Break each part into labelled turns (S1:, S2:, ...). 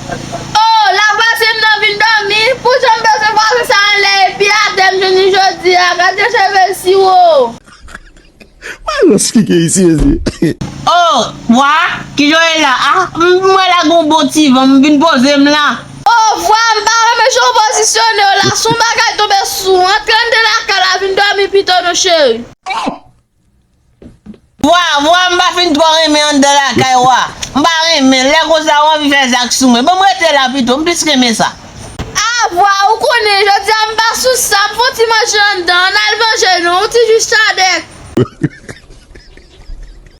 S1: Oh la pase m nan vin domi pou jan m peze pase sa anlè epi atè m jounen jodi a gad yon cheve siwo.
S2: Wè rans ki gen isi mesye. Oh
S3: vwa ki jan w ye la ah m wè la gen yon bon ti van m vin poze m la. Oh vwa m pa
S1: renmen jan w pozisyone w la son bagay tonbe sou ou antre anndan lakay la vin domi pito non cheri. Oh
S3: Vwa, vwa m pa fin twò renmen anndan lakay ou a. M pa renmen, lè konsa ou anvi fè zak sou mwen. Ban m rete la pito, m plis renmen sa. A, vwa,
S1: ou konnen, jodi a m pa sou sa, m fon ti manje anndan, ann al manje non, yon ti jus chadèk.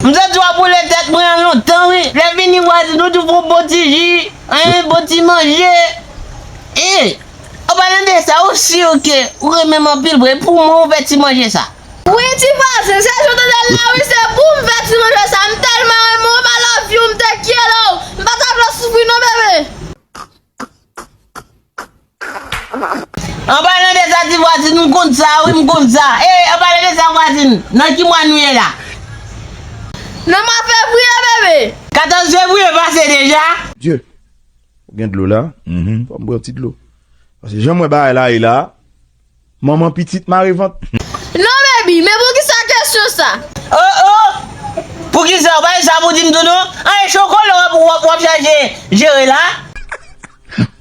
S3: M santi w ap boule tèt mwen an lontan wi, lè fini vwazin ou tou fon bon ti ji, hein, bon ti manje. Hi, an palan de sa, ou sur ke ou renmen m anpil vre, pou mwen ou fè ti manje sa? Wi ti vwazen
S1: se jan w tande l la wi se pou m fè ti manje sa m tèlman renmen w m I love you m te kyele w m pa ta vle w soufri non bebe.
S3: Anpalan de sa ti vwazin m konn sa wi m konn sa ee anpalan de sa vwazin nan ki mwa nou ye la.
S1: Nan mwa fevriye bebe. 14 fevriye
S3: pase deja. Dieu
S2: ou gen dlo la fòm pran ti dlo pase janm wè bagay la ye la. Manman pitit mare vant. Non baby,
S1: men poukisa kesyon sa? Oh oh!
S3: Poukisa ou pa di sa pou dim tou non? An e chokolo wap wap wap chache jere la?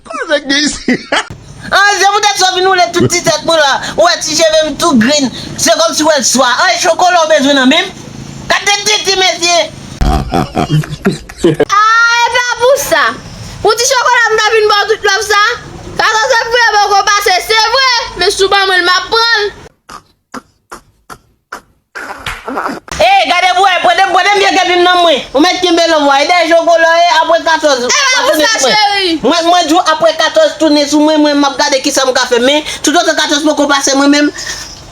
S2: Koze k gen isi? An se
S3: poutèt sa w vin woule tout ti tèt mwen la, ou wè ti cheve m tou grinn, se kòm si w wè l swa. An e chokolo w bezwen nan men m? Gad de tete mesye!
S1: Aah e pa pou sa Pou ti chokola m ta vin baw tout love sa Fason se pou yo poko pase se vre Men si w ban mwen l map pran l. Eyy gade
S3: pou wè prete prete m vye kè pim nan mwen ou mèt kenbe love wa e dèyè chokola e aprè 14 E pa pou sa cheri.
S1: Mwen mwen di w aprè 14
S3: tounen sou mwen mwen map gade kisa m ka fè men tout otan 14 poko pase mwen menm m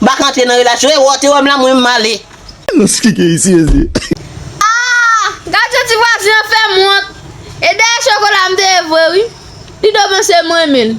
S3: paka antre nan relasyon e wè w te wè m la mwen m ale. Silans ki gen
S2: isi mesye.
S1: Aah gad jan ti vwazen an fèm wont e dèyè chokola m te ye vre wi li do panse m renmen l.